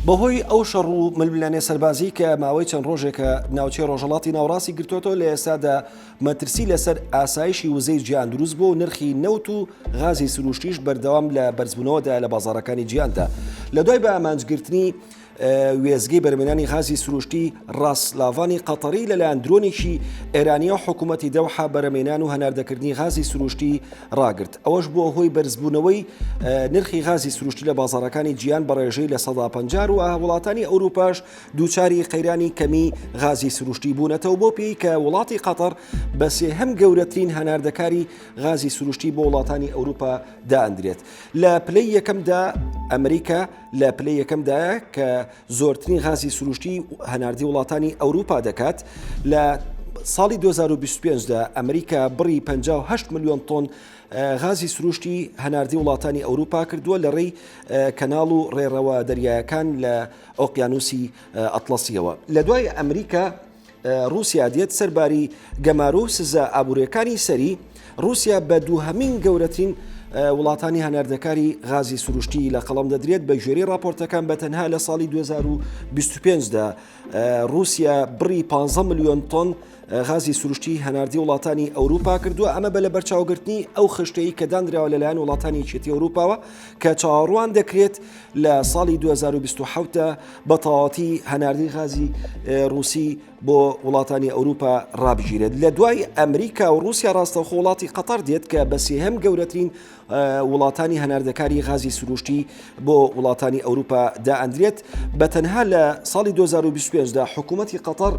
بەهۆی ئەو شەڕ و ململانێ سەربازیی کە ماوەی چەند ڕۆژێکە ناوچەی ڕۆژهەڵاتی ناوەڕاستی گرتووەتەوە لە ئێستادا مەترسی لەسەر ئاسایشی وزەی جیهان دروست بووە و نرخی نەوت و غازی سرووشتیش بەردەوام لە بەرزبوونەوەدایە لە بازاڕەکانی جیهاندا لە دوای بە ئامانجگرتنی وێزگەی بەرمێنانی غازی سروشتی ڕاستلاڤانی قەتەری لەلایەن درۆنێکی ئێرانیە حکوومەتی دەوحە بەرەمێنان و هەناردەکردنی غازی سروشتی ڕاگرت ئەوەش بووە هۆی بەرزبوونەوەی نرخی غازی سروشتی لە بازارەکانی جیان بە ڕێژەی لە سەدا پەنجار و وڵاتانی ئەوروپاش دووچاری قەیرانی کەمی غازی سروشتی بوونەتەوە بۆ پێی کە وڵاتی قەتەر بە سێهەم گەورەترین هەناردەکاری غازی سروشتی بۆ وڵاتانی ئەوروپا دادرێت لە پلەی یەکەمدا ئەمریکا لە پلەی یەکەمدایە کە زۆرترین غازی سروشتی هەناردەی وڵاتانی ئەوروپا دەکات لە ساڵی 2025دا ئەمریکا بڕی 58 میلیۆن تۆن غازی سروشتی هەناردی وڵاتانی ئەوروپا کردووە لە ڕێی کەناڵ و ڕێڕەوە دەریایەکان لە ئۆقیانوسی ئەتلسیەوە لە دوای ئەمریکا ڕوسیا دێت سەر باری گەمارۆ و سزا ئابوریەکانی سەری، ڕوسیا بە دووهەمین گەورەترین وڵاتانی هەناردەکاری غازی سروشتی لە قەڵم دەدرێت بە گوێری راپۆرتەکان بە تەنها لە ساڵی 2025دا رووسیا بڕی 15 میلیۆن تۆن غازی سروشتی هەناردی وڵاتانی ئەوروپا کردووە ئەمە بە لە بەرچاوگرتنی ئەو خشتەی کە دانراوە لەلایەن وڵاتانی چێتی ئەوروپاوە کە چاڕوان دەکرێت لە ساڵی 2027 دا بە تەواوەتی هەناردەی غازی ڕووسی بۆ وڵاتانی ئەوروپا ڕابگیرێت لە دوای ئەمریکا و رووسیا ڕاستەخۆ وڵاتی قەتەر دێت کە بە سێهەم گەورەترین وڵاتانی هەناردەکاری غازی سروشتی بۆ وڵاتانی ئەوروپا دائەندرێت بە تەنها لە ساڵی 2025 دا حکوومەتتی قەتەر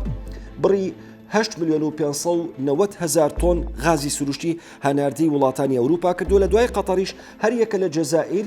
بڕی 8 میلیۆن و 590 هزار تۆن غازی سروشتی هەناردەی وڵاتانی ئەوروپا کردو لە دوای قەتەریش هەریەکە لە جەزائیر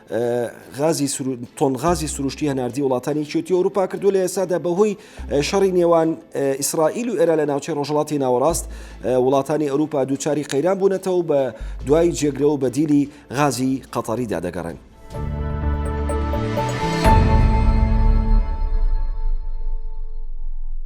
تۆن غازی سروشتی هەناردی وڵاتانی چێتی ئەوروپا کردو لە ئێسادا بەهۆی شەڕی نێوان ئیسرائیل و ئێرا لە ناوچەی ڕۆژڵاتی ناوەڕاست وڵاتانی ئەوروپا دووچاری قەیران بوونەتەوە بە دوای جێگرە و بەدیلی غازی قەتەریدا دەگەڕێن.